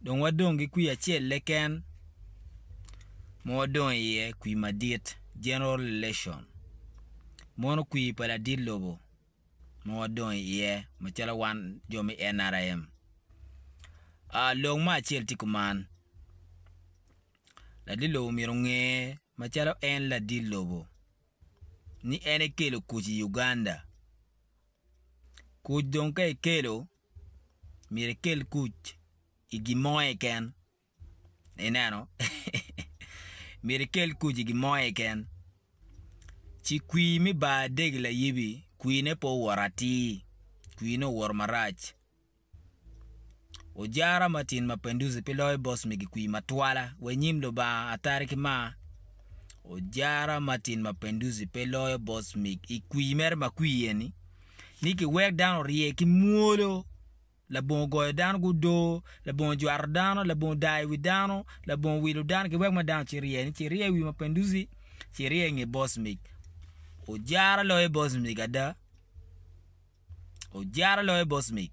Dong wadong ki kwir acel-le ken ma wadong iye, kwir madit, general election. Mono kwir pa ladit lobo ma wadong iye macalo wan jo me NRM. Aa, lok mo acel tye kuman, ladit lobo myero onge macalo en ladit lobo ni en ekelo kuc i Uganda. Kuc dong ka ikelo, myero ikel kuc i gin mo keken ineno myero ikel kuc i gin mo keken ci kwir me bar adegi layebi kwir ne pe owor atir kwir ne owor marac ojara ma tin mapenduzi pe loyo bos megi kwir matwala wa inyim lubanga atari ki mar ojara ma tin mapenduzi pe loyo bos megi ikwir mere makwir eni ni giwek dano orye ki mwolo, labongo goyo dano ki odoo, labongo jwato dano, labongo daa i wi dano, labongo wilo dano, giwek ma dano ci rye ni ci rye i wi mapenduzi, ci rye i nge bocmic. Ojara loyo bocmic ada, ojara loyo bocmic.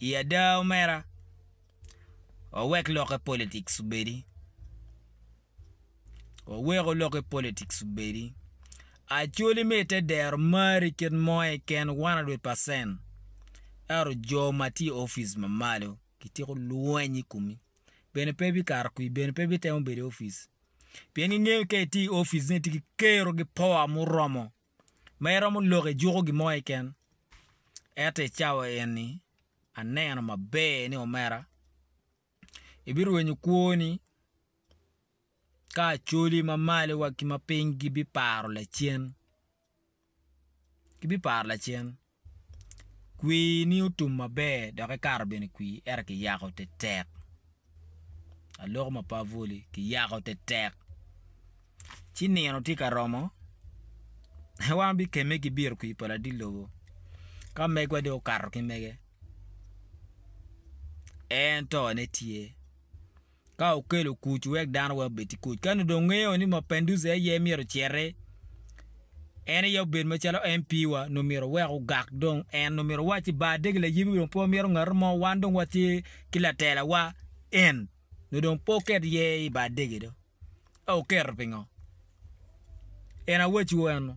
I ada omera, wawek lokke politics obedi, waweko lokke politics obedi, Acholi me ite dero mari kit mo keken 100%, ento jo ma tye i opic ma malo gitiko lweny i komi, bene pe bikato kwi, bene pe bitemo bedo i opic, pien gingeyo ka itye i opic ni itye ki kero ki power muromo. ma iromo lok ijuko gin mo keken. Ento i cawa eni, aneno maber ni omera, ibirwenyo kwoni ka Acholi ma malo wa ki ma piny gibiparo lacen. Gibiparo lacen. Kwini otum maber dok ikato bene kwir ento kiyako tetek aloko ma pe abwoli kiyako tetek ci nino tye ka romo wan wabikemme ki bito kwir pa ladit lobo ka megwa dong okato ki mege en tone tye. Ka okelo kuc wek dano wek obed ki kuc. Ka nongo dong ngeyo ni Mapenduse aye myero ociti, en aye obed macalo MP wa, nongo myero owek ogak dong en, nongo myero owacci ba adegi layebi dong pe wamyero ngatu mo, wan dong watye ki latela wa en, nongo dong pe oket ye i ba adegi do. Ka oketo pingo? En awaciwu eno.